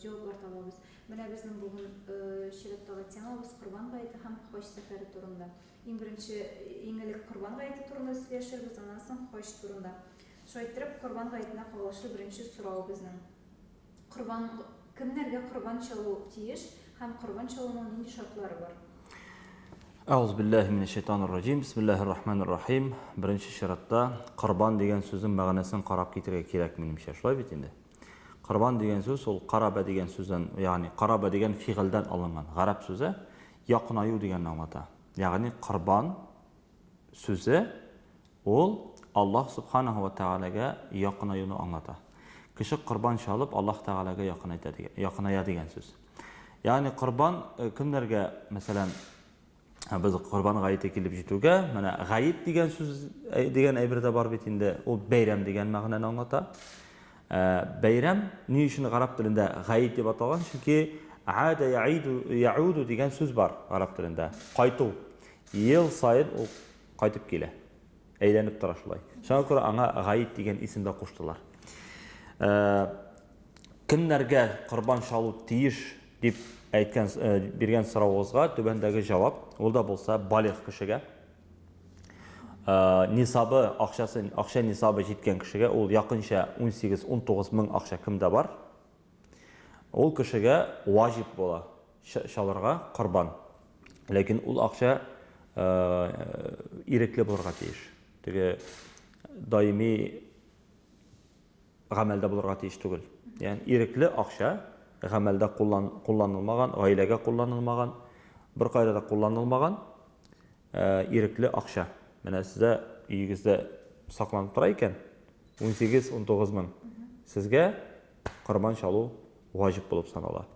җаваплар табабыз. Менә безнең бүген чираттагы темабыз Корбан гаете һәм хаҗ сәфәре турында. Иң беренче, иң элек Корбан гаете турында сөйләшербез, аннан соң хаҗ турында. Шулай иттереп, Корбан гаетенә кагылышлы беренче сорау безнең. Корбан кемнәргә корбан чалу тиеш һәм корбан чалуның нинди шартлары бар? Әгъүз биллаһи минәш шайтанир раҗим. Бисмиллаһир рахманир рахим. Беренче чиратта корбан дигән сүзнең мәгънәсен карап китергә кирәк, минемчә. Шулай бит инде? Корбан дигән сүз ул карабә дигән сүздән, ягъни карабә дигән фигыльдән алынган гарәп сүзе якынаю дигәнне аңлата. Ягъни корбан сүзе ул Аллаһ субханаһу ва тәгаләгә якынаюны аңлата. Кеше корбан чалып Аллаһ тәгаләгә якыная дигән сүз. Ягъни корбан э, кемнәргә, мәсәлән, Без Корбан гаете килеп җитүгә, менә гаит дигән сүз дигән әйбер дә бар бит инде. Ул бәйрәм дигән мәгънәне аңлата. Бәйрәм ни өчен гарәп телендә гаит дип аталган? Чөнки ада яиду яуду дигән сүз бар гарәп телендә. Кайту. Ел саен ул кайтып килә. Әйләнеп тора шулай. Шуңа күрә аңа Гаид дигән исем дә куштылар. Э, кемнәргә корбан чалу тиеш дип әйткән э, биргән соравыгызга түбәндәге җавап, ул да булса балигъ кешегә. Э, нисабы, акчасы, акча нисабы җиткән кешегә ул якынча 18-19 мең акча кемдә бар? Ул кешегә ваҗиб була чалырга корбан. Ләкин ул акча ирекле булырга тиеш. Теге даими гамәлдә булырга тиеш түгел. Ягъни ирекле акча гамәлдә кулланылмаган, гаиләгә кулланылмаган, беркайда да кулланылмаган ирекле акча. Менә сездә өегездә сакланып тора икән, 18-19 мең. Сезгә корбан чалу ваҗиб булып санала.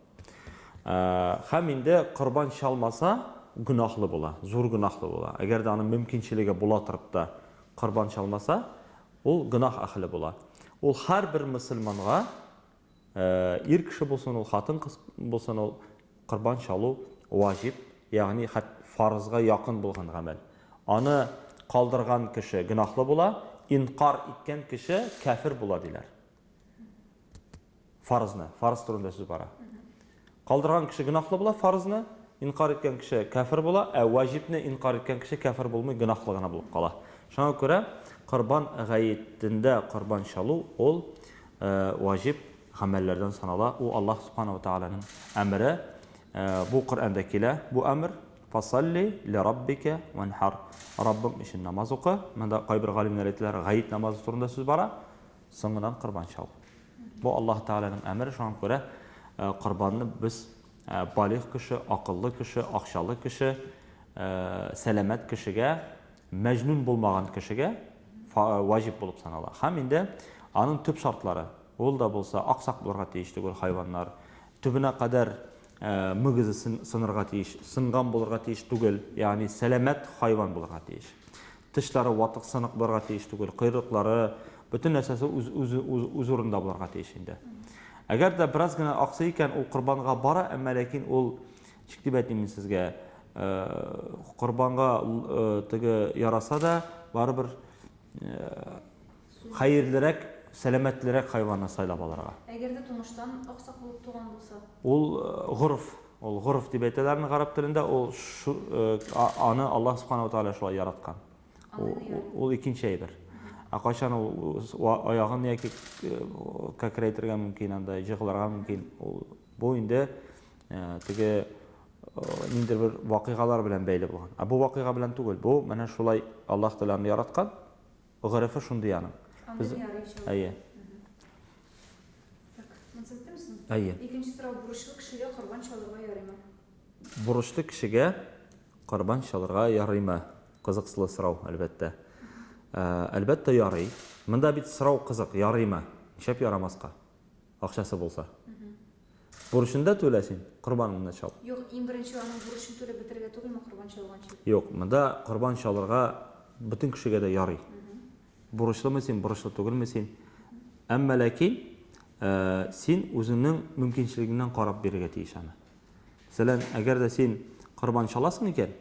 Һәм инде корбан чалмаса, гөнаһлы була, зур гөнаһлы була. Әгәр дә аның мөмкинчелеге була торып та корбан чалмаса, ул гөнаһ әһле була. Ул һәрбер мөселманга, ир кеше булсын ул, хатын кыз булсын ул, корбан чалу ваҗиб, ягъни фарызга якын булган гамәл. Аны калдырган кеше гөнаһлы була, инкар иткән кеше кафир була диләр. Фарызны, фарыз турында сүз бара. Калдырган кеше гынахлы була фарызны, инкар иткән кеше кәфер була, ә ваҗибне инкар иткән кеше кәфер булмый, гынахлы гына булып кала. Шуңа күрә корбан гаетендә корбан чалу ул э, ваҗиб гамәлләрдән санала. У Аллаһ субханала тааляның әмере. Э, бу Коръәндә килә, бу әмер. Фасалли ли раббика ванхар. Раббың өчен намаз укы. Монда кайбер галимнәр әйтәләр, гаит намазы турында сүз бара. Соңыннан корбан чал. Бу Аллаһ Тәгаләнең әмере, шуңа күрә корбанны без балигъ кеше, акыллы кеше, акчалы кеше, сәламәт кешегә, мәҗнүн булмаган кешегә ваҗиб булып санала. Һәм инде аның төп шартлары, ул да булса аксак булырга тиеш түгел хайваннар. Төбенә кадәр мөгезе сынырга тиеш, сынган булырга тиеш түгел, ягъни сәламәт хайван булырга тиеш. Тышлары ватык сынык булырга тиеш түгел, койрыклары, бөтен нәрсәсе үз үз үз, үз урында булырга тиеш инде. Әгәр дә бераз гына аксый икән, ул корбанга бара, әмма ләкин ул чик дип әйтмим сезгә, корбанга теге яраса да, барыбер хәерлерәк, сәламәтлерәк хайванны сайлап алырга. Әгәр дә тумыштан аксак булып туган булса? Ул горф, ул горф дип әйтәләр аны гарәп телендә, ул аны Аллаһ Субхана ва Тааля шулай яраткан. Ул икенче әйбер. Ә кайчан ул аягын яки кәкрәйтергә мөмкин анда, җыгылырга мөмкин. Ул бу инде теге ниндер бер вакыйгалар белән бәйле булган. Ә бу вакыйга белән түгел. Бу менә шулай Аллаһ Тааляны яраткан. Горефы шундый аның. Аны Без... ярый чыгар. Әйе. Так, мансәттә мисең? Әйе. Икенче сорау, бурычлы кешегә корбан чалырга ярыймы? Бурычлы кешегә корбан чалырга ярыймы? Кызыксылы сорау, әлбәттә. Әлбәттә ярый. Монда бит сорау кызык, ярыймы? Нишләп ярамаска? Акчасы булса. Бурычын да түлә син, корбанын да чал. Юк, иң беренче аның бурычын түләп бетерергә түгелме корбан чалганчы? Юк, монда корбан чалырга бөтен кешегә дә ярый. Бурычлымы син, бурычлы түгелме син? Әмма ләкин син үзеңнең мөмкинчелегеңнән карап бирергә тиеш аны. Мәсәлән, әгәр дә син корбан чаласың икән,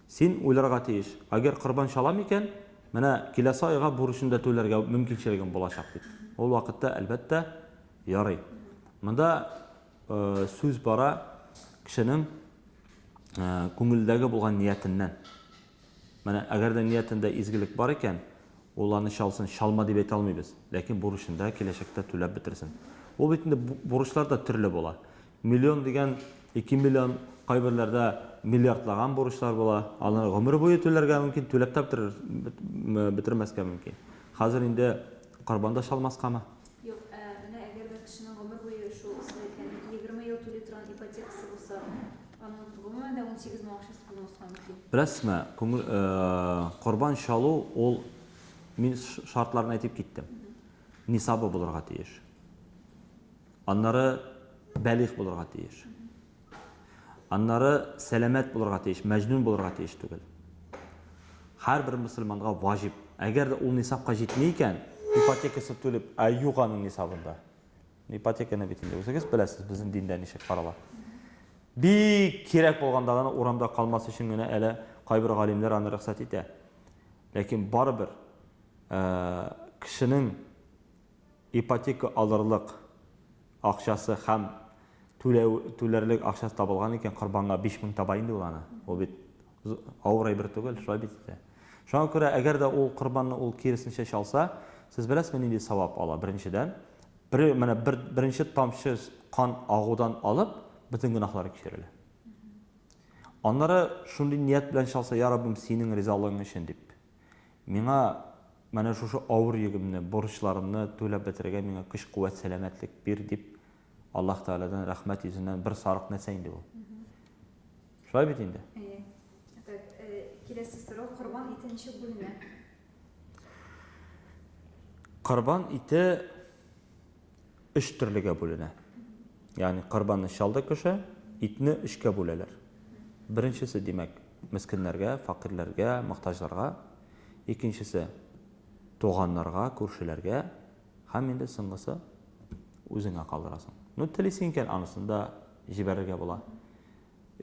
Син уйларга тиеш, әгәр корбан чалам икән, менә киләсе айга бурычны да түләргә мөмкинчелегем булачак дип. Ул вакытта, әлбәттә, ярый. Монда сүз бара кешенең күңелдәге булган ниятеннән. Менә әгәр дә ниятендә изгелек бар икән, ул аны чалсын, чалма дип әйтә алмыйбыз. Ләкин бурычында киләчәктә түләп бетерсен. Ул бит инде бурычлар да төрле була. Миллион дигән, ике миллион, кайберләрдә миллиардлаган бурычлар була. Аны гомер буе түләргә мөмкин, түләп тә бетермәскә мөмкин. Хәзер инде корбан да чалмаскамы? Юк, ә менә әгәр бер кешенең гомер буе шул исемлекләрне егерме ел түли торган ипотекасы булса, аның гомумән дә унсигез мең акчасы булмаска мөмкин. Беләсезме, корбан чалу ул, мин шартларын әйтеп киттем, нисабы булырга тиеш. Аннары бәлих булырга тиеш. Аннары сәламәт булырга тиеш, мәҗнүн булырга тиеш түгел. Һәрбер мусульманга ваҗиб. Әгәр дә ул нисапка җитми икән, ипотекасы түлеп, ә юк аның нисабында. Ипотеканы бит инде үзегез беләсез, безнең диндә ничек карала. Бик кирәк булганда гына урамда калмас өчен генә әле кайбер галимнәр аны рөхсәт итә. Ләкин барыбер э, кешенең ипотека алырлык акчасы һәм түләү түләрлек акчасы табылган икән, корбанга биш мең таба инде ул аны. Ул бит авыр әйбер түгел, шулай бит инде. Шуңа күрә, әгәр дә ул корбанны ул киресенчә чалса, сез беләсезме, нинди савап ала? Беренчедән, бер, менә бер, беренче тамчы кан агудан алып, бөтен гөнаһлары кичерелә. Аннары шундый ният белән чалса, я Раббым, синең ризалыгың өчен дип. Миңа менә шушы авыр йөгемне, бурычларымны түләп бетерергә миңа көч-куәт, сәламәтлек бир, дип Аллаһ Тәгаләдән рәхмәт йөзеннән бер сарык нәрсә инде ул. Шулай бит инде? Әйе. Так, э, киләсе сорау, корбан ите ничек бүленә? Корбан ите өч төрлегә бүленә. Ягъни корбанны чалды кеше, итне өчкә бүләләр. Беренчесе, димәк, мескеннәргә, факирләргә, мохтаҗларга, икенчесе туганнарга, күршеләргә һәм инде соңгысы үзеңә калдырасың. Ну, телисең икән, анысын да җибәрергә була.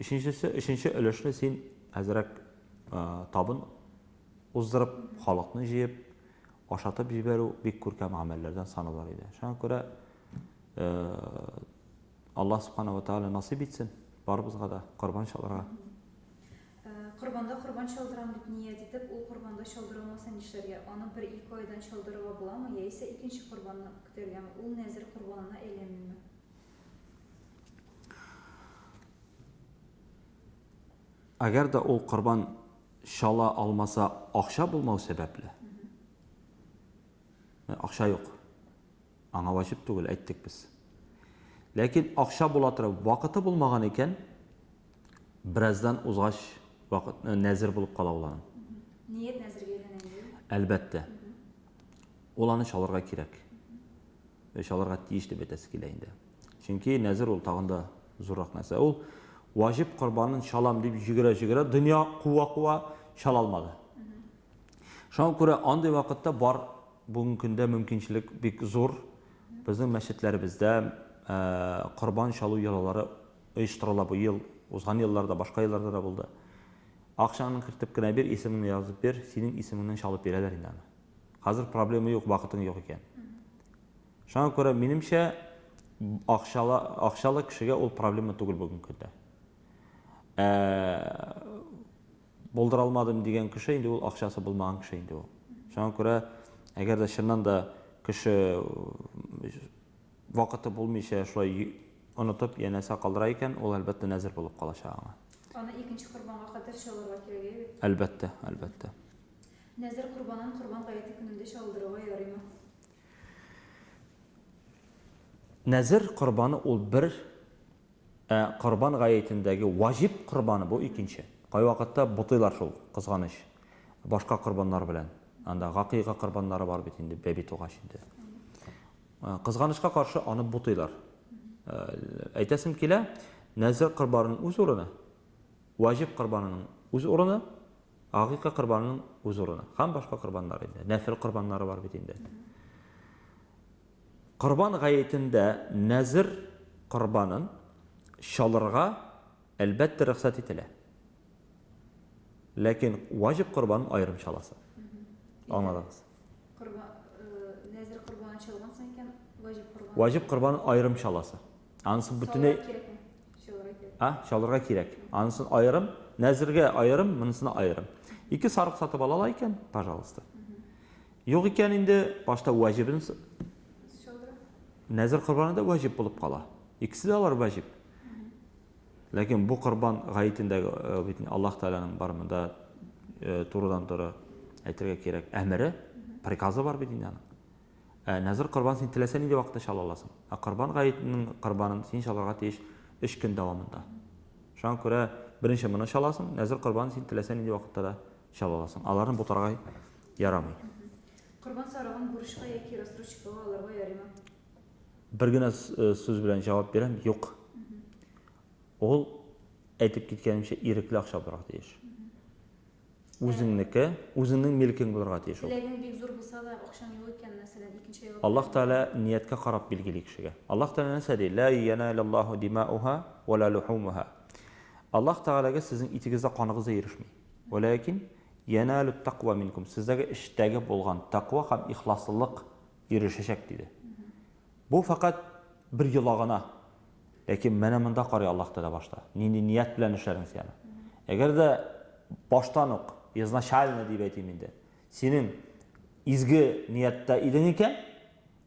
Өченчесе, өченче өлешне син әзрәк табын уздырып, халыкны җыеп, Ашатып җибәрү бик күркәм гамәлләрдән саналыр иде. Шуңа күрә Аллаһ Субхана ва Тааля насыйп итсен барыбызга да корбан чалырга. Корбанда корбан чалдырам дип ният итеп, ул корбанда чалдырылмаса нишләргә? Аны бер-ике айдан чалдырырга буламы, яисә икенче корбанны көтәргәме? Ул нәзер корбанына әйләнмиме? Әгәр дә ул корбан чала алмаса, акча булмау сәбәпле. Ә, акча юк. Аңа ваҗиб түгел, әйттек без. Ләкин акча була торып, вакыты булмаган икән, бераздан узгач, вакыт э, нәзер булып кала ул аның. Ният нәзергә Әлбәттә. Ул аны чалырга кирәк. Чалырга тиеш дип әйтәсе килә инде. Чөнки нәзер ул тагында Зуррак нәрсә. Ул ваҗиб корбанын чалам дип җөгерә-җөгерә, дөнья куа-куа чала алмады. Шуңа күрә андый вакытта бар бүгенге көндә мөмкинчелек бик зур. Безнең мәчетләребездә корбан чалу йолалары оештырыла бу ел. Узган елларда, башка елларда да булды. Акчаңны кертеп кенә бир, исемеңне язып бир, синең исемеңнән чалып бирәләр инде аны. Хәзер проблема юк, вакытың юк икән. Шуңа күрә, минемчә, акчалы, акчалы кешегә ул проблема түгел бүгенге көндә. Ә, булдыра алмадым дигән кеше инде ул акчасы булмаган кеше инде ул. Шуңа күрә, әгәр дә чыннан да кеше вакыты булмыйча шулай онытып янәсә калдыра икән, ул әлбәттә нәзер булып калачак аңа. Аны икенче корбанга кадәр чалырга кирәк иде. Әлбәттә, әлбәттә. Нәзер корбанын корбан гаете көнендә чалдырырга ярыймы? Нәзер корбаны ул бер, ә корбан гаетендәге ваҗиб корбаны бу икенче. Кайвакытта бутыйлар шул, кызганыч, башка корбаннар белән. Анда гакыйга корбаннары бар бит инде, бәби тугач инде. Кызганычка каршы, аны бутыйлар. Әйтәсем килә, нәзер корбанының үз урыны, ваҗиб корбанының үз урыны, Агыйка корбанының үз урыны һәм башка корбаннар инде. Нәфел корбаннары бар бит инде. Корбан гаетендә нәзер корбанын чалырга әлбәттә рөхсәт ителә. Ләкин ваҗиб корбан аерым чаласы. Аңладыгыз. Корбан э, нәзер корбаны чалган соң икән ваҗиб корбан. Ваҗиб корбан аерым чаласы. Анысы бөтенләй а чалырга кирәк. Анысын аерым, нәзергә аерым, монысына аерым. Ике сарык сатып ала ала икән, пожалуйста. Юк икән инде башта ваҗибен нәзер корбаны да ваҗиб булып кала. Икесе дә алар ваҗиб. Ләкин бу корбан гаетендәге э, бит Аллаһ Тәгаләнең бар монда э, турыдан-туры әйтергә кирәк әмере, приказы бар бит инде аның. Ә Назыр корбан син теләсә нинди вакытта чала аласың. Ә корбан гаетенең корбанын син чалырга тиеш өч көн дәвамында. Шуңа күрә беренче моны чаласың, Назыр корбанын син теләсә нинди вакытта да чала аласың. Аларны бутарга ярамый. Корбан сарыгын бурычка яки рассрочкага алырга ярыймы? Бер генә сүз белән җавап бирәм, юк. Ул, әйтеп киткәнемчә, ирекле акча булырга тиеш. Үзеңнеке, үзеңнең милкең булырга тиеш ул. Теләгең бик зур булса да, акчаң юк икән, мәсәлән, икенче айлык. Аллаһ Тәгалә нияткә карап билгели кешегә. Аллаһ Тәгалә нәрсә ди? Лә йәналәллаһу димауха вә лә лухумуха. Аллаһ Тәгаләгә сезнең итегез дә каныгыз да ирешми. Вәләкин йәналүт тәква минкум. Сездәге эчтәге булган тәква һәм ихласлылык ирешәчәк диде. Бу фәкать бер йола гына. Ләкин менә монда карый Аллаһ Тәгалә башта. Нинди ният белән эшләдең син аны. Әгәр дә баштан ук, изначально дип әйтим инде, синең изге нияттә идең икән,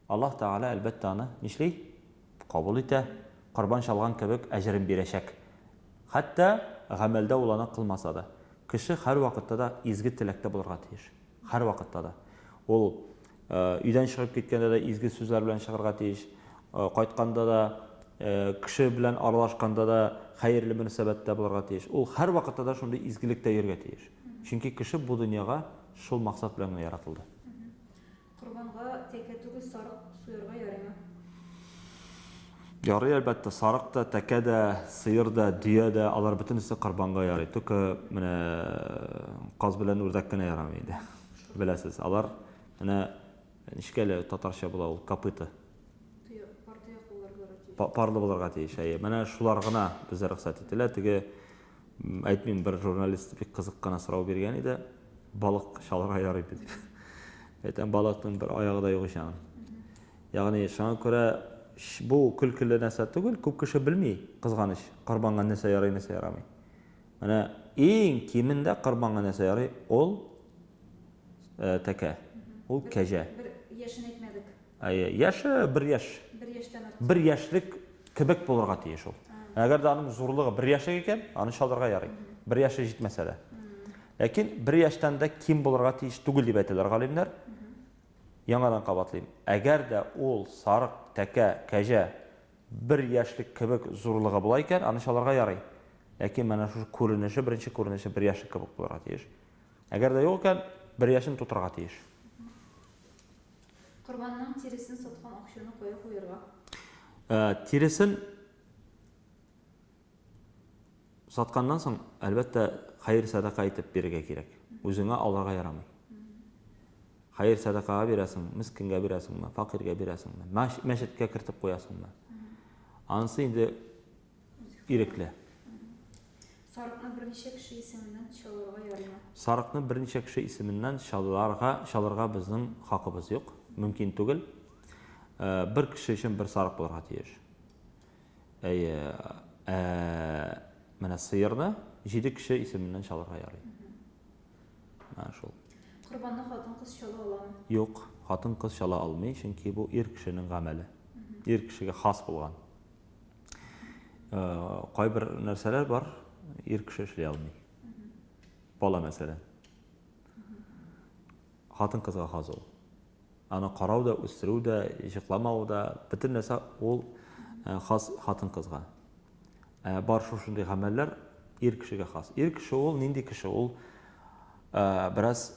Аллаһ Тәгалә, әлбәттә, аны нишли? Кабул итә, корбан чалган кебек әҗерен бирәчәк. Хәтта гамәлдә ул аны кылмаса да. Кеше һәрвакытта да изге теләктә булырга тиеш. Һәрвакытта да. Ул Өйдән чыгып киткәндә дә изге сүзләр белән чыгарга тиеш. Кайтканда да, кеше белән аралашканда да хәерле мөнәсәбәттә булырга тиеш. Ул һәрвакытта да шундый изгелектә йөрергә тиеш. Чөнки кеше бу дөньяга шул максат белән генә яратылды. Корбанга тәкә түгел, сарык суярга ярыймы? Ярый, әлбәттә, сарык та, тәкә дә, сыер да, дөя дә, алар бөтенесе корбанга ярый. Только менә каз белән үрдәк кенә ярамый инде. Беләсез, алар менә ничек әле татарча була ул копыта? Парлы булырга тиеш. Әйе, менә шулар гына безгә рөхсәт ителә. Теге әйтмим, бер журналист бик кызык кына сорау биргән иде. Балык чалырга ярый бит. Әйтәм, балыкның бер аягы да юк икән. Ягъни шуңа күрә бу көлкеле нәрсә түгел, күп кеше белми, кызганыч, корбанга нәрсә ярый, нәрсә ярамый. Менә иң кимендә корбанга нәрсә ярый? Ул тәкә. Ул кәҗә. Бер яшен әйтмәдек. Әйе, яше бер яш. Бер яшьтән артык. Бер яшьлек кебек булырга тиеш ул. Әгәр дә аның зурлыгы бер яшьлек икән, аны чалырга ярый. Бер яше җитмәсә дә. Ләкин бер яшьтән дә ким булырга тиеш түгел дип әйтәләр галимнәр. Яңадан кабатлыйм. Әгәр дә ул сарык, тәкә, кәҗә Бер яшьлек кебек зурлыгы була икән, аны чалырга ярый. Ләкин менә шушы күренеше, беренче күренеше бер яшьлек кебек булырга тиеш. Әгәр дә юк икән, бер яшен тутырырга тиеш. Корбанның тиресен саткан акчаны кая куярга? Тиресен Сатканнан соң, әлбәттә, хәер садака итеп бирергә кирәк. Үзеңә алырга ярамый. Хәер садакага бирәсең, мескенгә бирәсеңме, факиргә бирәсеңме, мәчеткә кертеп куясыңмы? Анысы инде ирекле. Сарыкны берничә кеше исеменнән чалырга ярыймы? Сарыкны берничә кеше исеменнән чалырга, чалырга безнең хакыбыз юк, мөмкин түгел. Э, бер кеше өчен бер сарык булырга тиеш. Әйе. Ә менә сыерны җиде кеше исеменнән чалырга ярый. Менә шул. Корбанны хатын-кыз чала аламы? Юк, хатын-кыз чала алмый, чөнки бу ир кешенең гамәле. Ир кешегә хас булган. Э, кайбер нәрсәләр бар, ир кеше эшли алмый. Бала мәсәлән. Хатын-кызга хас ул. Аны карау да, үстерү дә, җыкламау да, бөтен нәрсә ул хас хатын-кызга. Ә бар шушындый гамәлләр ир кешегә хас. Ир кеше ул нинди кеше? Ул бераз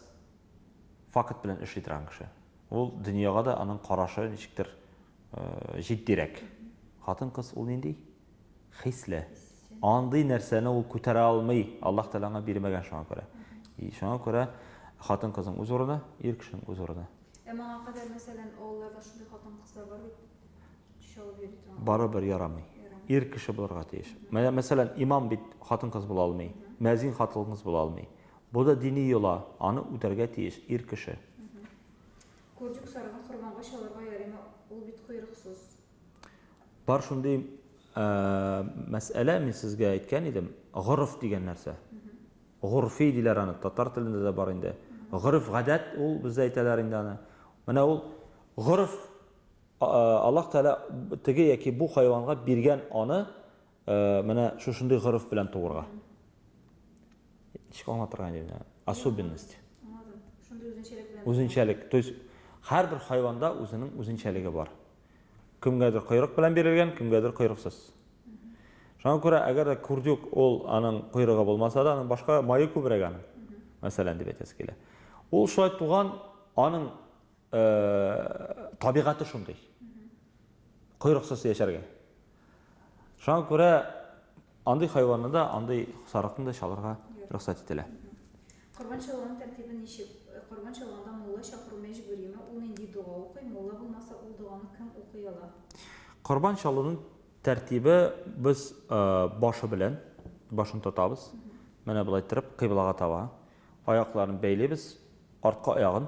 факт белән эшли торган кеше. Ул дөньяга да аның карашы ничектер җитдирәк. Хатын-кыз ул нинди? хисле. Андый нәрсәне ул күтәрә алмый. Аллаһ Тәгалә аңа бирмәгән шуңа күрә. И шуңа күрә хатын-кызның үз урыны, ир кешенең үз урыны. Ә моңа кадәр, мәсәлән, авылларда шундый хатын-кызлар бар бит, чалып йөри торган. Барыбер ярамый. Ир кеше булырга тиеш. Менә, мәсәлән, имам бит хатын-кыз була алмый, мәзин хатын-кыз була алмый. Бу да дини йола, аны үтәргә тиеш ир кеше. Курдюк сарыгын корбанга чалырга ярыймы? Ул бит койрыксыз. Бар шундый мәсьәлә, мин сезгә әйткән идем, горф дигән нәрсә. Горфи диләр аны, татар телендә дә бар инде. Горф гадәт ул бездә әйтәләр инде аны. Менә ул горф Аллаһ Тәгалә теге яки бу хайванга биргән аны Э, менә шушындый горыф белән туырга. Ничек аңлатырга инде менә? Особенность. Шундый үзенчәлек белән. Үзенчәлек. То есть һәрбер хайванда үзенең үзенчәлеге бар. Кемгәдер койрык белән бирелгән, кемгәдер койрыксыз. Шуңа күрә, әгәр дә күрдюк ул аның койрыгы булмаса да, аның башка мае күбрәк аның. Мәсәлән, дип әйтәсе килә. Ул шулай туган, аның табигате шундый. Койрыксыз яшәргә. Шуңа күрә андый хайванны да, андый сарыкны да чалырга рөхсәт ителә. Корбан чалуның тәртибе ничек? Корбан чалганда мулла чакыру мәҗбүриме? Ул нинди дога укый? Мулла булмаса, ул доганы кем укый ала? Корбан чалуның тәртибе без башы белән башын тотабыз. Менә болай торып, кыйблага таба. Аякларын бәйлибез, арткы аягын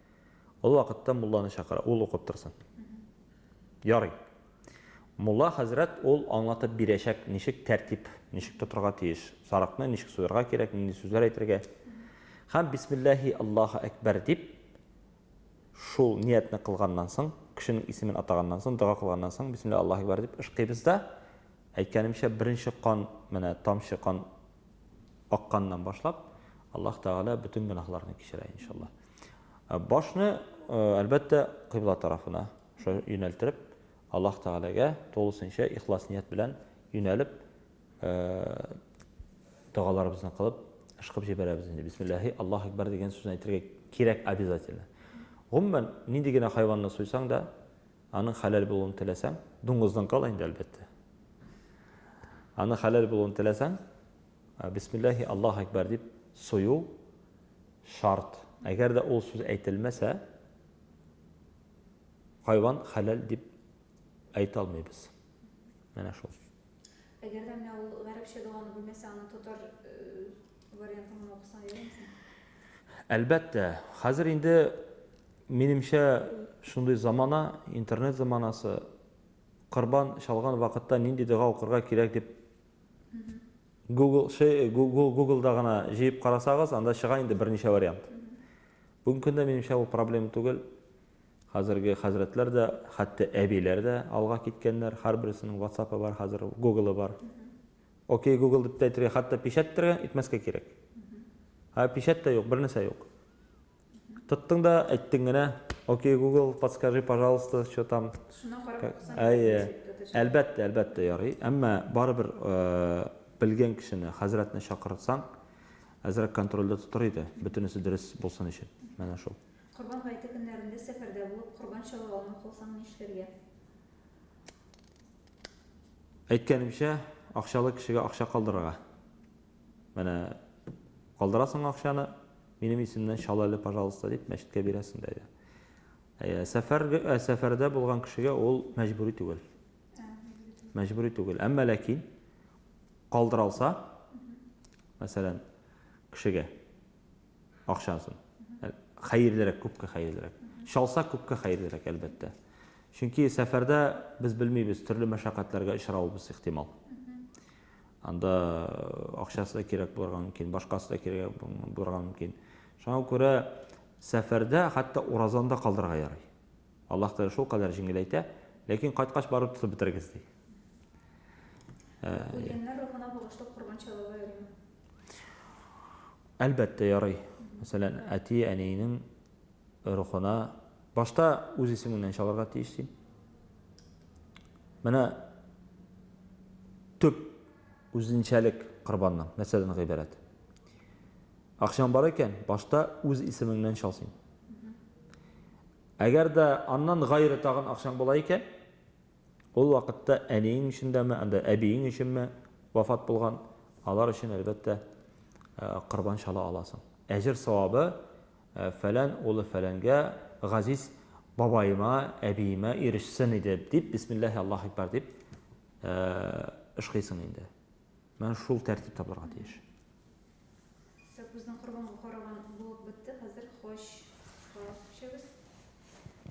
Ул вакытта мулланы чакыра, ул укып торсын. Ярый. Мулла хәзрәт ул аңлатып бирәчәк, ничек тәртип, ничек тотырга тиеш, сарыкны ничек суярга кирәк, нинди сүзләр әйтергә. Һәм бисмиллаһи Аллаһу әкбәр дип шул ниятне кылганнан соң, кешенең исемен атаганнан соң, дога кылганнан соң, бисмиллаһи Аллаһу әкбәр дип ышкыйбыз да, әйткәнемчә, беренче кан, менә тамчы кан акканнан башлап, Аллаһ Тәгалә бөтен гөнаһларны кичерә, иншаллаһ. Ә башны, э, әлбәттә, кыйбла тарафына юнәлтереп, Аллаһ Тәгаләгә тулысынча ихлас ният белән юнәлеп, э, догаларыбызны кылып, ышкып җибәрәбез инде. Бисмиллаһи, Аллаһ Акбар дигән сүзне әйтергә кирәк обязательно. Гомумән, нинди генә хайванны суйсаң да, Аның хәләл булуын теләсәң, дуңгызның ал инде, әлбәттә. Аның хәләл булуын теләсәң, бисмиллахи Аллаһ әкбәр дип сою шарт. Әгәр дә ул сүз әйтелмәсә, хайван хәләл дип әйтә алмыйбыз. Менә шул. Әгәр дә менә ул гарәпчә доганы белмәсә, аны татар э, Әлбәттә, хәзер инде, минемчә, шундый замана, интернет заманасы, корбан чалган вакытта нинди дога укырга кирәк дип Google, ши, Google, Google-да гына җыеп карасагыз, анда чыга инде берничә вариант. Бүгенге көндә, минемчә, ул проблема түгел. Хәзерге хәзрәтләр дә, хәтта әбиләр дә алга киткәннәр, һәрберсенең WhatsApp-ы бар хәзер, Google-ы бар. Окей гугл дип тә әйтергә, хәтта печәт тергә, итмәскә кирәк. Ә печәт тә юк, бернәрсә юк. Тоттың да, әйттең генә, окей гугл, подскажи, пожалуйста, что там. Шуна карап Әйе. Әлбәттә, әлбәттә ярый. Әмма барыбер белгән кешене, хәзрәтне чакырсаң, әзрәк контрольдә тотар иде, бөтенесе дөрес булсын өчен. Менә шул. Корбан гаете көннәрендә сәфәрдә булып, корбан чала алмый калсаң нишләргә? Әйткәнемчә, акчалы кешегә акча калдырырга. Менә калдырасың акчаны, минем исемнән чал әле, пожалуйста, дип мәчеткә бирәсең дә. Ә сәфәр ә сәфәрдә булган кешегә ул мәҗбүри түгел. Мәҗбүри түгел. Әмма ләкин калдыралса, мәсәлән, кешегә акчасын. Ә, Хәерлерәк, күпкә хәерлерәк. Чалса, күпкә хәерлерәк, әлбәттә. Чөнки сәфәрдә без белмибез, төрле мәшәкатьләргә очравыбыз ихтимал. Анда акчасы да кирәк булырга мөмкин, башкасы да кирәк булырга мөмкин. Шуңа күрә сәфәрдә хәтта уразаны да калдырырга ярый. Аллаһ Тәгалә шул кадәр җиңеләйтә, ләкин кайткач барып тотып бетерегез ди. Ә, Үлгәннәр рухына багышлап корбан чалырга ярыймы? Әлбәттә, ярый. Мәсәлән, әти-әниенең рухына башта үз исемеңнән чалырга тиеш син. Менә төп үзенчәлек корбанның, мәсәлән, гыйбарәт. Акчаң бар икән, башта үз исемеңнән чал син. Әгәр дә аннан гайре тагын акчаң була икән, Ул вакытта әниең өчен дәме, анда әбиең өченме вафат булган, алар өчен, әлбәттә, корбан чала аласың. Әҗер-савабы, фәлән улы фәләнгә, газиз бабаема, әбиемә ирешсен иде, дип, бисмиллаһи Аллаһу әкбәр дип ышкыйсың инде. Менә шул тәртиптә булырга тиеш. Сакбүзнең корбанга караган булып бетте, хәзер хаҗга күчәбез.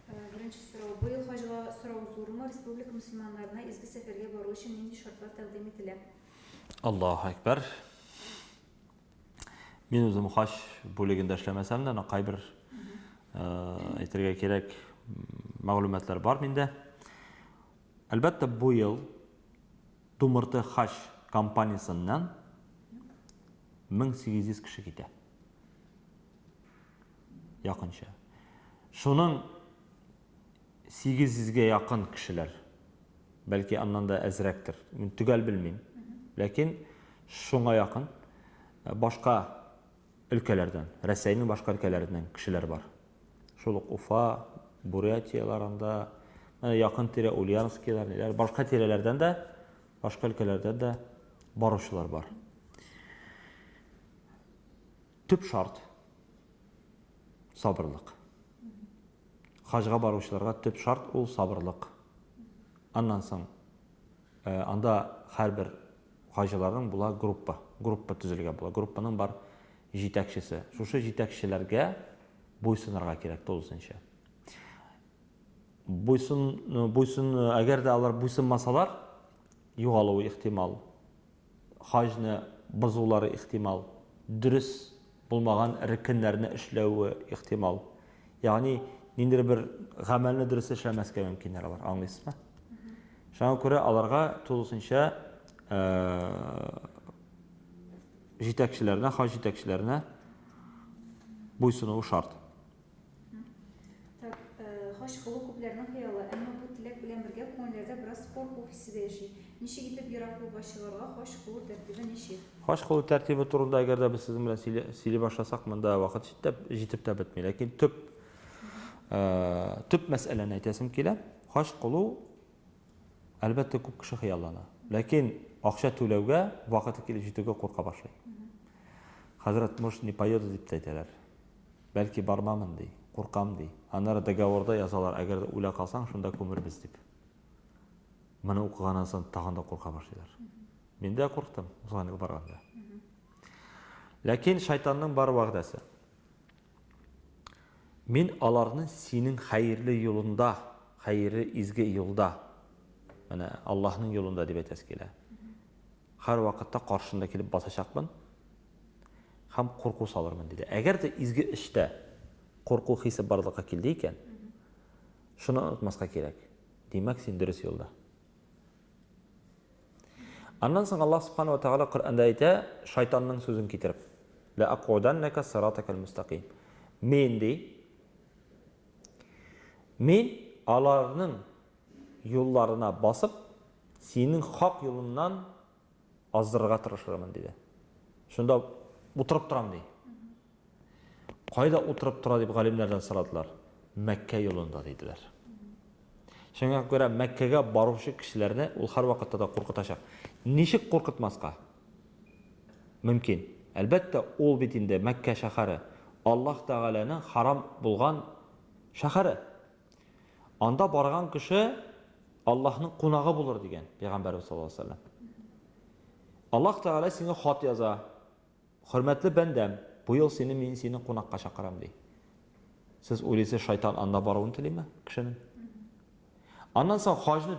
Э, беренче сорау. Быел хаҗга сорау зурмы? Республика мөселманнарына изге сәфәргә бару өчен нинди шартлар тәкъдим ителә? Аллаһу әкбәр. Мин үзем хаҗ бүлегендә эшләмәсәм дә, кайбер э, әйтергә кирәк мәгълүматлар бар миндә. Әлбәттә, бу ел Думырты хаҗ компаниясеннән 1800 кеше китә. Якынча. Шуның 800 гә якын кешеләр, бәлки аннан да әзрәктер, мин төгәл белмим, ләкин шуңа якын башка өлкәләрдән, Рәсәйнең башка өлкәләреннән кешеләр бар. Шул ук Уфа, Бурятияләр анда, менә якын тирә Ульяновскилар, ниләр, башка тирәләрдән дә, башка өлкәләрдән дә баручылар бар. Төп шарт сабырлык. Хаҗга баручыларга төп шарт ул сабырлык. Аннан соң Анда һәрбер хаҗиларның була группа. Группа төзелгә була. Группаның бар җитәкчесе. Шушы җитәкчеләргә буйсынырга кирәк тулысынча. Буйсын, буйсын, әгәр дә алар буйсынмасалар, югалуы ихтимал. хаҗны бозулары ихтимал, дөрес булмаган рекеннәрне эшләве ихтимал. Ягъни ниндидер бер гамәлне дөрес эшләмәскә мөмкиннәр алар, аңлыйсызмы? Шуңа күрә аларга тулысынча җитәкчеләренә, хаҗ җитәкчеләренә буйсынуы шарт. Так, э, хач кылу күпләрнең хыялы, әмма бу теләк белән бергә күңелләрдә бераз курку хисе дә яши. Ничек итеп ерак юлга чыгарга, хач кылу тәртибе ничек? Хач кылу тәртибе турында әгәр дә без сезнең белән сөйли, сөйли башласак, монда вакыт җитеп, җитеп тә бетми. Ләкин төп э, төп мәсьәләне әйтәсем килә. Хач кылу әлбәттә күп кеше хыяллана. Ләкин акча түләүгә вакыты килеп җитүгә курка башлый. Хәзрәт, может, не поеду дип тә әйтәләр. Бәлки бармамын, ди. Куркам, ди. Аннары договорда язалар, әгәр дә үлә калсаң, шунда күмербез, дип. Моны укыганнан соң тагын да курка башлыйлар. Мин дә курктым, узган ел барганда. Ләкин шайтанның бар вәгъдәсе. Мин аларны синең хәерле юлында, хәерле изге юлда, менә Аллаһның юлында дип әйтәсе килә. Һәрвакытта каршында килеп басачакмын, һәм курку салырмын, диде. Әгәр дә изге эштә курку хисе барлыкка килде икән, шуны онытмаска кирәк. Димәк, син дөрес юлда. Аннан соң Аллаһ субхана ва тагала Коръәндә әйтә, шайтанның сүзен китереп. Лә акуданнака сиратакал мустаким. Мин ди. Мин аларның юлларына басып, синең хак юлыннан аздырырга тырышырмын, диде. Шунда утырып торам, ди. Кайда утырып тора дип галимнәрдән сорадылар. Мәккә юлында, диделәр. Шуңа күрә Мәккәгә баручы кешеләрне ул һәрвакытта да куркытачак. Ничек куркытмаска? Мөмкин. Әлбәттә, ул бит инде Мәккә шәһәре, Аллаһ Тәгаләнең харам булган шәһәре. Анда барган кеше Аллаһның кунагы булыр дигән пәйгамбәрбез саллаллаһу алейһи ва сәлләм. Аллаһ Тәгалә сиңа хат яза. Хөрмәтле бәндәм, бу ел сине мин сине кунакка чакырам ди. Сез уйлыйсыз, шайтан анда баруын телиме кешенең? Аннан соң хаҗны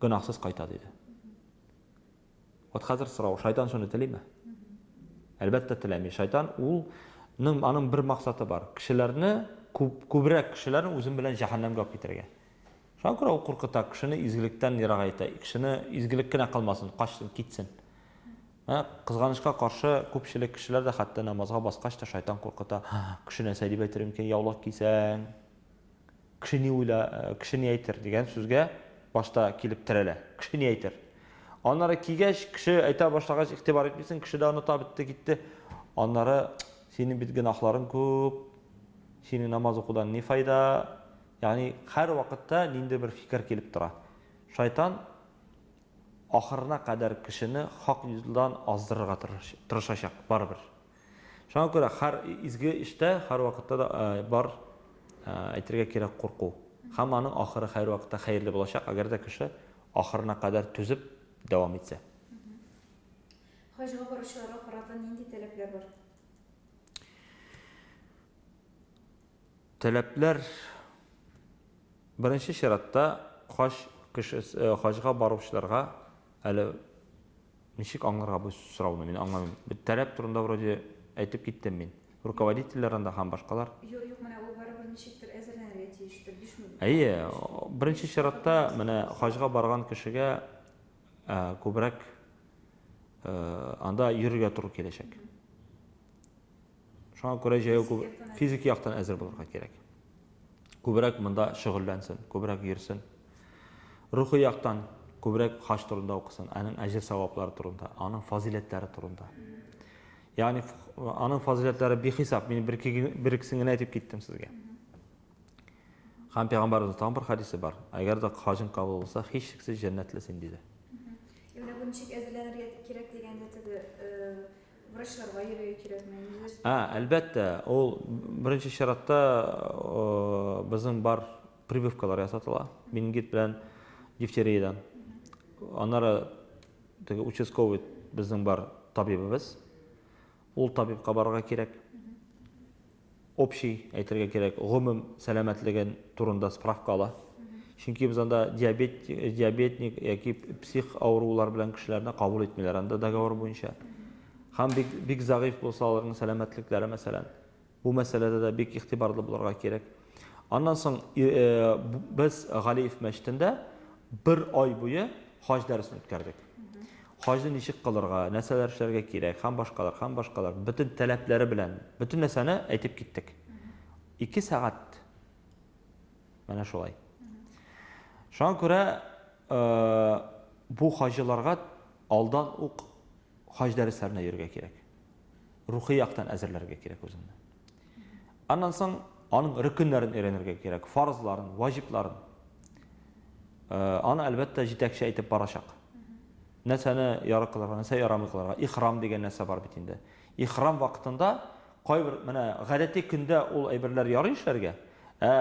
гөнаһсыз кайта, диде. Вот хәзер сорау, шайтан шуны телиме? Әлбәттә теләми. Шайтан ул ның аның бер максаты бар. Кешеләрне күп күбрәк кешеләрне үзем белән җәһәннәмгә алып китәргә. Шуңа күрә ул куркыта, кешене изгелектән ерак әйтә. Кешене изгелек кенә кылмасын, качсын, китсен. Ә кызганычка каршы күпчелек кешеләр дә хәтта намазга баскач та шайтан куркыта. Кеше нәрсә дип әйтер микән, яулык кисәң? Кеше ни уйла, кеше ни әйтер дигән сүзгә башта килеп терәлә. Кеше ни әйтер? Аннары кигәч, кеше әйтә башлагач, игътибар итмисең, кеше дә оныта бетте, китте. Аннары синең бит гөнаһларың күп, синең намаз укудан ни файда? Ягъни һәр вакытта нинди бер фикер килеп тора. Шайтан ахырына кадәр кешене хак юлдан аздырырга тырышачак барыбер. Шуңа күрә һәр изге эштә һәрвакытта да бар әйтергә кирәк курку. Һәм аның ахыры һәрвакытта хәерле булачак, әгәр дә кеше ахырына кадәр түзеп дәвам итсә. Хаҗга баручыларга карата нинди таләпләр бар? Таләпләр беренче чиратта хаҗ кешесе хаҗга баручыларга әле Ничек аңларга бу сорауны? Мин аңламыйм. Бит таләп турында вроде әйтеп киттем мин. Руководительләр анда һәм башкалар. Юк, юк, менә ул барыбер ничектер әзерләнергә тиештер, бишмү. Әйе, беренче чиратта менә хаҗга барган кешегә күбрәк анда йөрергә туры киләчәк. Шуңа күрә җәяү күп физик яктан әзер булырга кирәк. Күбрәк монда шөгыльләнсен, күбрәк йөрсен. Рухи яктан күбрәк хаҗ турында укысын, аның әҗер саваплары турында, аның фазиләтләре турында. Ягъни аның фазиләтләре бихисап. Мин бер бер икесен генә әйтеп киттем сезгә. Һәм пәйгамбәрнең тагын бер хадисе бар. Әгәр дә хаҗың кабул булса, һичшиксез җәннәтле син диде. Менә бу ничек әзерләнергә кирәк дигәндә теге Врачларга йөрергә кирәкме? Ә, әлбәттә, ул беренче чиратта безнең бар прививкалар ясатыла. Менингит белән дифтериядән. Аннары теге участковый безнең бар табибыбыз. Ул табибка барырга кирәк. общий, әйтергә кирәк, гомум сәламәтлеген турында справка ала. Чөнки без анда диабет, диабетник яки псих авырулар белән кешеләрне кабул итмиләр анда договор буенча. Һәм бик, бик зәгыйф булса аларның сәламәтлекләре, мәсәлән, бу мәсьәләдә дә бик игътибарлы булырга кирәк. Аннан соң э, без Галиев мәчетендә бер ай буе хаҗ дәресен үткәрдек. хаҗны ничек кылырга, нәрсәләр эшләргә кирәк һәм башкалар, һәм башкалар, бөтен таләпләре белән бөтен нәрсәне әйтеп киттек. Ике сәгать. Менә шулай. Шуңа күрә э, бу хаҗиларга алдан ук хаҗ дәресләренә йөрергә кирәк. Рухи яктан әзерләргә кирәк үзеңне. Аннан соң аның рөкеннәрен өйрәнергә кирәк, фарызларын, ваҗибларын. Э, аны әлбәттә җитәкче әйтеп барачак. Нәрсәне яры кылырга, нәрсә ярамый кылырга. Ихрам дигән нәрсә бар бит инде. Ихрам вакытында кайбер менә гадәти көндә ул әйберләр ярый эшләргә, ә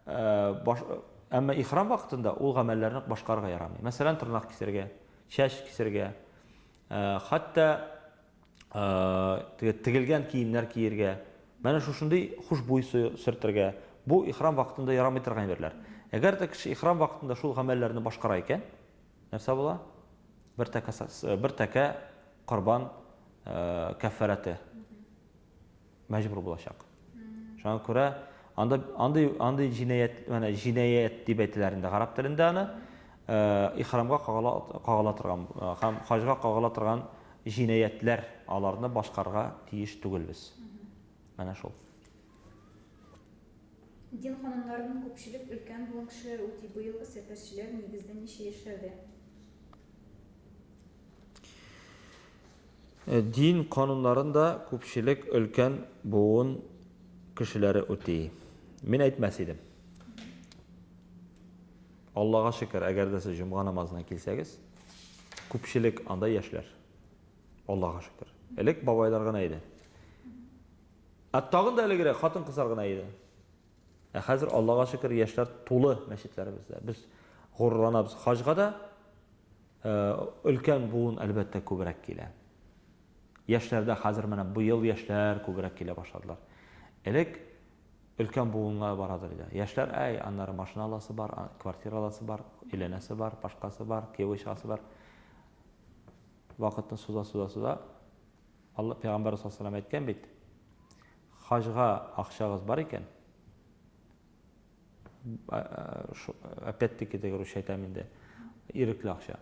э, әмма ихрам вакытында ул гамәлләрне башкарырга ярамый. Мәсәлән, тырнак кисергә, чәч кисергә, э, хәтта тегелгән киемнәр киергә, менә шушындый хушбуй сөртергә, бу ихрам вакытында ярамый торган әйберләр. Әгәр дә кеше ихрам вакытында шул гамәлләрне башкара икән, нәрсә була? Бер тәкә бер тәкә корбан каффараты. мәҗбүр булачак. Шуңа күрә анда андый андый җинаять, менә җинаять дип әйтеләр инде гарәп телендә аны, э, ихрамга кагыла кагыла торган э, һәм хаҗга кагыла торган җинаятләр аларны башкарга тиеш түгелбез. Менә шул. Дин кануннарын күпчелек өлкән булган кешеләр үти. Быелгы сәфәрчеләр нигездә ничә яшьләрдә? Дин кануннарын да күпчелек өлкән буын кешеләре үти. Мин әйтмәс идем. Аллага шөкер, әгәр дә сез җомга намазына килсәгез, күпчелек анда яшьләр. Аллага шөкер. Элек бабайлар гына иде. Ә тагын да элегрәк хатын-кызлар гына иде. Ә хәзер, Аллага шөкер, яшьләр тулы мәчетләребездә. Без горурланабыз. Хаҗга да өлкән буын, әлбәттә, күбрәк килә. Яшьләрдә хәзер менә быел яшьләр күбрәк килә башладылар. Элек өлкән буынга барадыр иде. Яшьләр, әй, аннары машина аласы бар, квартира аласы бар, өйләнәсе бар, башкасы бар, кияү чыгасы бар. Вакытны суза-суза-суза. Алла пәйгамбәр саллаллаху әйткән бит. Хаҗга акчагыз бар икән, опять-таки теге русча әйтәм инде, ирекле акча.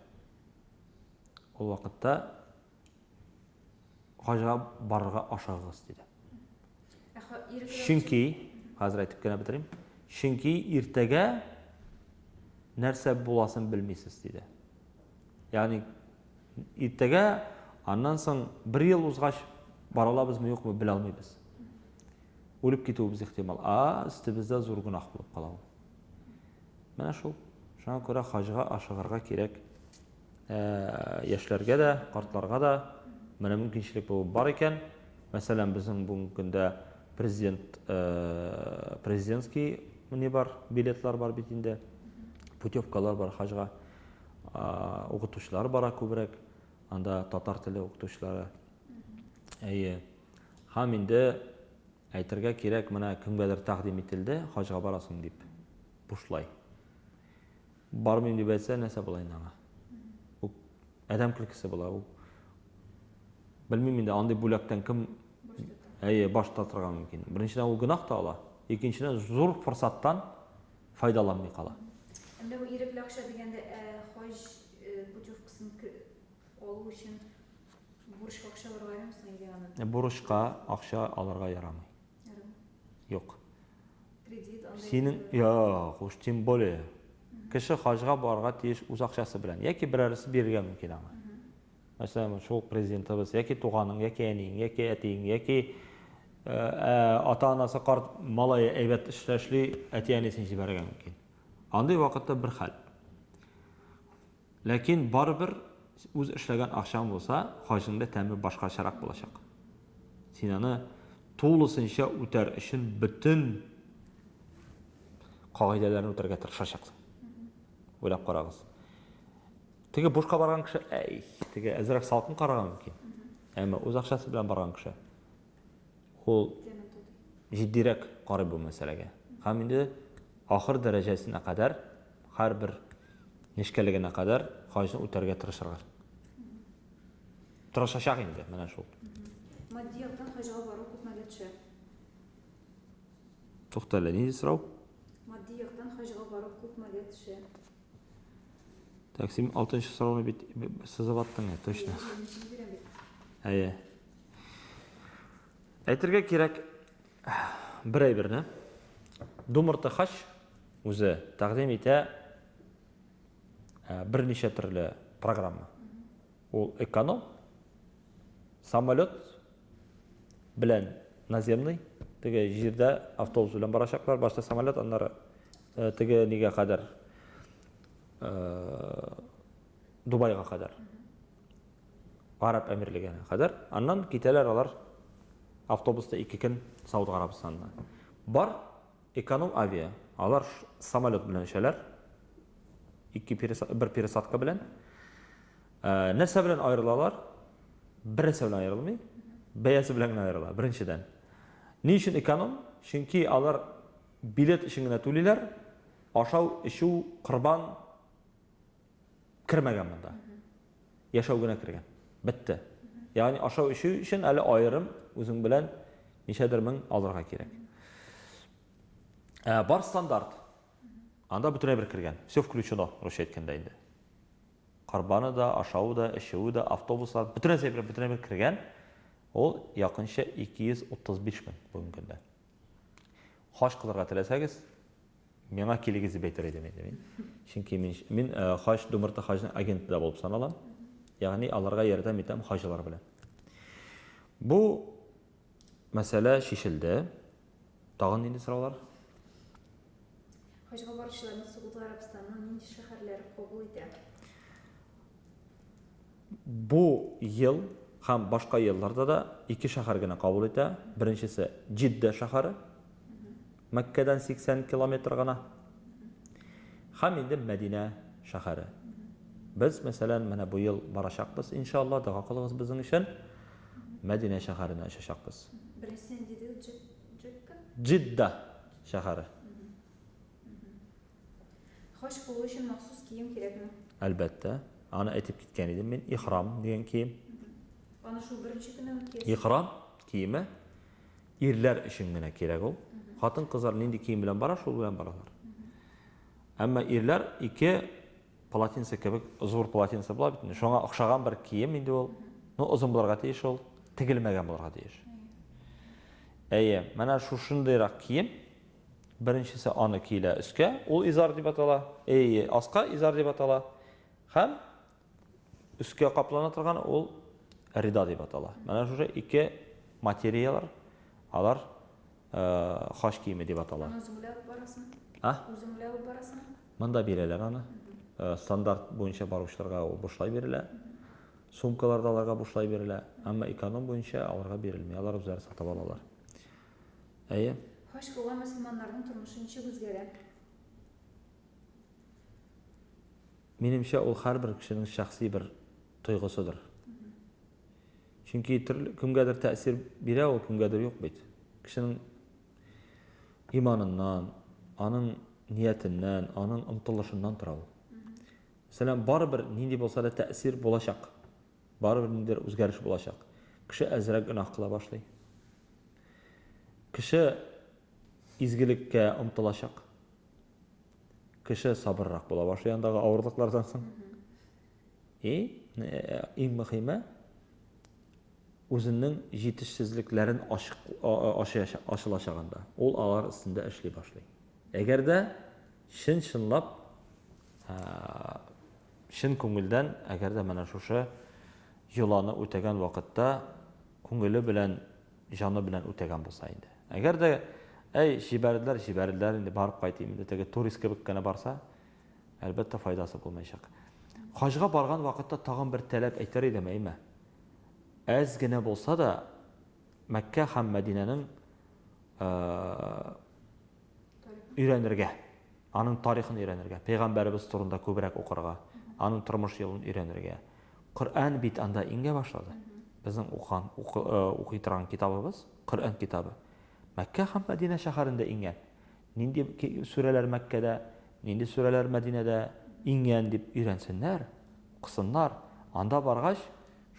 Ул вакытта хаҗга барырга ашыгыгыз, диде. Чөнки, хәзер әйтеп кенә бетерим, чөнки иртәгә нәрсә буласын белмисез, диде. Ягъни иртәгә, аннан соң бер ел узгач, бара алабызмы, юкмы, белә алмыйбыз. Үлеп китүебез ихтимал. А өстебездә зур гөнаһ булып кала ул. Менә шул. Шуңа күрә хаҗга ашыгырга кирәк. Ә, яшьләргә дә, картларга да менә мөмкинчелек бу бар икән. Мәсәлән, безнең бүгенге көндә президент президентский не бар, билетлар бар бит инде. Путевкалар бар хаҗга. Укытучылар бара күбрәк, анда татар теле укытучылары. Әйе. Һәм инде әйтергә кирәк, менә кемгәдер тәкъдим ителде, хаҗга барасың дип. Бушлай. Бармыйм дип әйтсә, нәрсә була инде аңа? Ул адәм көлкесе була ул. Белмим инде андый бүләктән кем әйе, баш тартырга мөмкин. Беренчедән ул гөнаһ та ала, икенчедән зур форсаттан файдаланмый кала. Әмма бу ирекле акча дигәндә, ә хаҗ путевкасын алу өчен бурычка акча алырга ярамый соң или аны? Бурычка акча алырга ярамый. Ярамый. Юк. Кредит анда. Синең, юк, уж тем более. Кеше хаҗга барырга тиеш үз акчасы белән. Яки берәресе бирергә мөмкин аңа. Мәсәлән, шул президентыбыз, яки туганың, яки әниең, яки әтиең, яки э, э, ата-анасы карт малае әйбәт эштә эшли, әти-әнисен җибәрергә мөмкин. Андый вакытта бер хәл. Ләкин барыбер үз эшләгән акчаң булса, хаҗның да тәме башкачарак булачак. Син аны тулысынча үтәр өчен бөтен кагыйдәләрне үтәргә тырышачаксың. Уйлап карагыз. Теге бушка барган кеше, әй, теге әзрәк салкын караган мөмкин. Әмма үз акчасы белән барган кеше. Ул җитдирәк карый бу мәсьәләгә. Һәм инде ахыр дәрәҗәсенә кадәр, һәрбер нечкәлегенә кадәр хаҗны үтәргә тырышырга. Тырышачак инде, менә шул. Матди яктан хаҗга бару күпмәгә төшә? Туктале, нинди сорау? Матди яктан хаҗга бару күпмәгә төшә? Так, син алтынчы сорауны бит сызып аттың, ә, точно. Әйе. Әйтергә кирәк бер әйберне. Думырты хач үзе тәкъдим итә берничә төрле программа. Ул эконом, самолет белән наземный, теге җирдә автобус белән барачаклар, башта самолет, аннары э, теге нигә кадәр э, Дубайга кадәр. Араб әмирлегенә кадәр. Аннан китәләр алар автобуста ике көн Сауд Арабстанына. Бар эконом авиа. Алар самолет белән эчәләр. Ике пересадка, бер пересадка белән. Ә, нәрсә белән аерылалар? Бернәрсә белән аерылмый. Бәясе белән генә аерыла, беренчедән. Ни өчен эконом? Чөнки алар билет өчен генә түлиләр, ашау, эчү, корбан кермәгән монда. Яшәү генә кергән. Бетте. Ягъни ашау, эчү өчен әле аерым үзең белән ничәдер мең алырга кирәк. Ә, бар стандарт. Анда бөтенләй бер кергән. Все включено, русча әйткәндә инде. Корбаны да, ашавы да, эчүе дә, автобуслар, бөтен нәрсә бер, бөтен бер кергән, ул якынча 235 мең бүгенге көндә. Хаҗ кылырга теләсәгез, миңа килегез дип әйтер идем инде мин. Чөнки мин, мин э, хаҗ, Думырты хаҗның агенты да булып саналам. Ягъни аларга ярдәм итәм хаҗылар белән. Бу мәсьәлә шешелде. Тагын нинди сораулар? Хаҗга баручыларны Согуд Гарәбстанның нинди шәһәрләре кабул итә? Бу ел һәм башка елларда да ике шәһәр генә кабул итә. Беренчесе Җиддә шәһәре. Мәккәдән 80 километр гына. Һәм инде Мәдинә шәһәре. Без, мәсәлән, менә бу ел барачакбыз, иншалла, дога кылыгыз безнең өчен. Мәдинә шәһәренә очачакбыз. Беренче нинди диде? Джидда? Джидда шәһәре. Хаҗ кылу өчен махсус кием кирәкме? Әлбәттә. Аны әйтеп киткән идем мин. Ихрам дигән кием. Аны шул беренче көннән үк киясез? Ихрам киеме ирләр өчен генә кирәк ул. Хатын-кызлар нинди кием белән бара, шул белән баралар. Әмма ирләр ике Полотенце кебек зур полотенце була бит. Шуңа охшаган бер кием инде ул. Ну, озын булырга тиеш ул, тегелмәгән булырга тиеш. Әйе, менә шушындыйрак кием. Беренчесе аны киелә өскә, ул изар дип атала. Әйе, аска изар дип атала. Һәм өскә каплана торган ул рида дип атала. Менә шушы ике материялар, алар э, хач киеме дип атала. Аны үзеңләп барасың? А? Үзеңләп барасың? Монда бирәләр аны. Стандарт буенча баручыларга ул бушлай бирелә. Сумкалар да аларга бушлай бирелә. Әмма эконом буенча аларга бирелми. Алар үзләре сатып алалар. Әйе. Хаҗ кылган мөселманнарның тормышы ничек үзгәрә? Минемчә, ул һәрбер кешенең шәхси бер тойгысыдыр. Чөнки төрле кемгәдер тәэсир бирә ул, кемгәдер юк бит. Кешенең Иманыннан, аның ниятеннән, аның омтылышыннан тора ул. Мәсәлән, барыбер нинди булса да тәэсир булачак. Барыбер ниндидер үзгәреш булачак. Кеше әзрәк гөнаһ кыла башлый. Кеше изгелеккә омтылачак. Кеше сабыррак була башлый андагы авырлыклардан соң. И, иң мөхиме, үзенең җитешсезлекләрен ачылачагында, ул алар өстендә эшли башлый. Әгәр дә чын-чынлап, чын күңелдән, әгәр дә менә шушы йоланы үтәгән вакытта күңеле белән, җаны белән үтәгән булса инде. Әгәр дә, әй, җибәрделәр, җибәрделәр, инде барып кайтыйм, инде теге турист кебек кенә барса, Әлбәттә, файдасы булмаячак. Хаҗга барган вакытта тагын бер тәләп әйтер идем, әйме. Әз генә булса да Мәккә һәм Мәдинәнең өйрәнергә, аның тарихын өйрәнергә, пәйгамбәребез турында күбрәк укырга, аның тормыш юлын өйрәнергә. Коръән бит анда иңгә башлады. Безнең укыган укый торган китабыбыз, Коръән китабы. Мәккә һәм Мәдинә шәһәрендә иңгән. Нинди сүрәләр Мәккәдә, нинди сүрәләр Мәдинәдә иңгән дип өйрәнсеннәр, укысыннар. Анда баргач,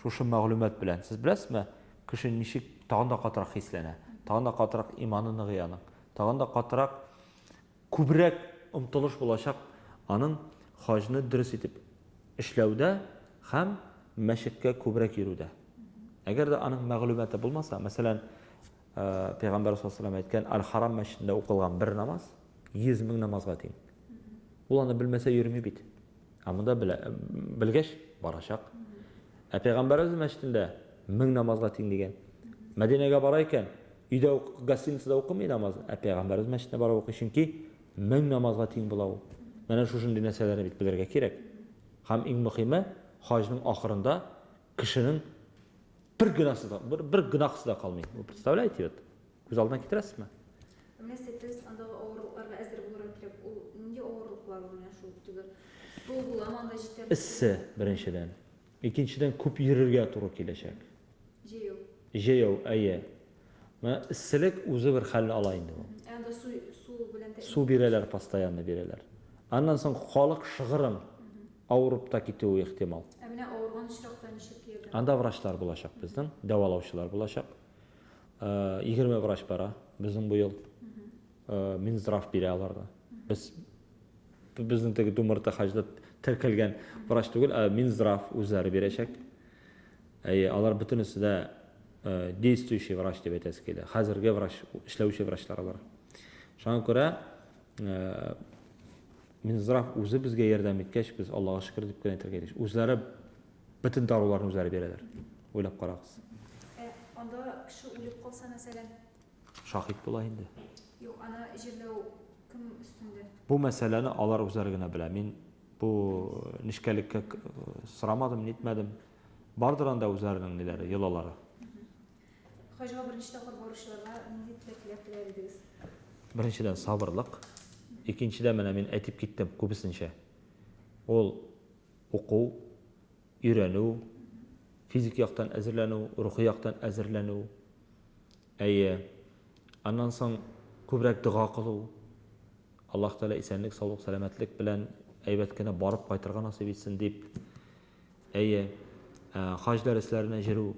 шушы мәгълүмат белән, сез беләсезме, кеше ничек тагын да катырак хисләнә, тагын да катырак иманы ныгый аның, тагын да катырак, күбрәк омтылыш булачак аның хаҗны дөрес итеп эшләүдә һәм мәчеткә күбрәк йөрүдә. Әгәр дә аның мәгълүматы булмаса, мәсәлән, Пәйгамбәр саллаллаһу алейһи әйткән, Аль-Харам мәчетендә укылган бер намаз 100 мең намазга тиң. Ул аны белмәсә йөрми бит. Ә монда белә, белгәч барачак. Ә Пәйгамбәребез мәчетендә 1000 намазга тиң дигән. Мәдинәгә бара икән, өйдә ук, гостиницада укымый намаз, ә Пәйгамбәребез мәчетенә барып укый, чөнки 1000 намазга тиң була ул. Менә шушындый нәрсәләрне бит белергә кирәк. Һәм иң мөхиме, хаҗның ахырында кешенең бер гөнаһысы да, бер, бер гөнаһысы да калмый. Вы представляете вот? Күз алдына китерәсезме? Нәрсә без андагы авырлыкларга әзер булырга кирәк. Ул нинди авырлыклар ул менә шул теге сул буламан да җитәрлек. Эссе беренчедән. Икенчедән күп йөрергә туры киләчәк. Җәяү. Җәяү, әйе. Менә эсселек үзе бер хәлне ала инде бу. Ә анда су су белән тә Су бирәләр, постоянно бирәләр. Аннан соң халык шыгрым авырып та китүе ихтимал. Ә менә авырган очракта ничек ярдәм? Анда врачлар булачак безнең, дәвалаучылар булачак. Егерме врач бара безнең быел. Минздрав бирә аларга. Без Безнең теге Думарта хаҗда теркәлгән врач түгел, ә Минздрав үзләре бирәчәк. Әйе, алар бөтенесе дә действующий врач дип әйтәсе килә. Хәзерге врач, эшләүче врачлар алар. Шуңа күрә Минздрав үзе безгә ярдәм иткәч, без Аллага шөкер дип кенә әйтергә тиеш. Үзләре бөтен даруларны үзләре бирәләр. Уйлап карагыз. Анда кеше үлеп калса, мәсәлән, Шаһит була инде. Юк, аны җирләү кем өстендә? Бу мәсьәләне алар үзләре генә белә. Мин бу нечкәлеккә сорамадым, нитмәдем. Бардыр анда үзләренең ниләре, йолалары. Хаҗга беренче тапкыр баручыларга нинди теләкләр теләр идегез? Беренчедән, сабырлык. Икенчедән, менә мин әйтеп киттем күбесенчә. Ул уку, өйрәнү, физик яктан әзерләнү, рухи яктан әзерләнү. Әйе. Аннан соң күбрәк дога кылу. Аллаһ Тәгалә исәнлек, саулык, сәламәтлек белән әйбәт кенә барып кайтырга насыйп итсен дип. Әйе. Ә, хаҗ дәресләренә җөрү.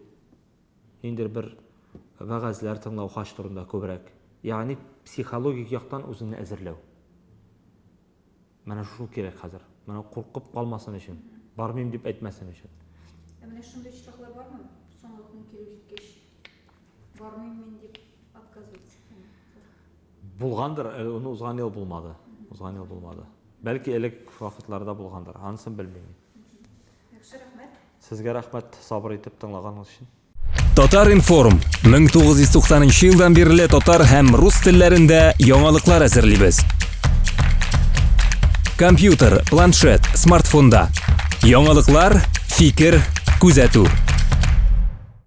Ниндер бер вәгазьләр тыңлау хаҗ турында күбрәк. Ягъни психологик яктан үзеңне әзерләү. Менә шушы кирәк хәзер. Менә куркып калмасын өчен. Бармыйм дип әйтмәсен өчен. Ә менә шундый очраклар бармы? Соңгы көн килеп җиткәч, бармыйм мин дип отказ итсен. Булгандыр, әле ул узган ел булмады. Узган ел булмады. Бәлки элек вакытларда булгандыр. Анысын белмим мин. Яхшы, рәхмәт. Сезгә рәхмәт, сабыр итеп тыңлаганыгыз өчен. Татар-информ 1990 елдан бирле татар һәм рус телләрендә яңалыклар әзерлибез. Компьютер, планшет, смартфонда. Яңалыклар, фикер, күзәтү.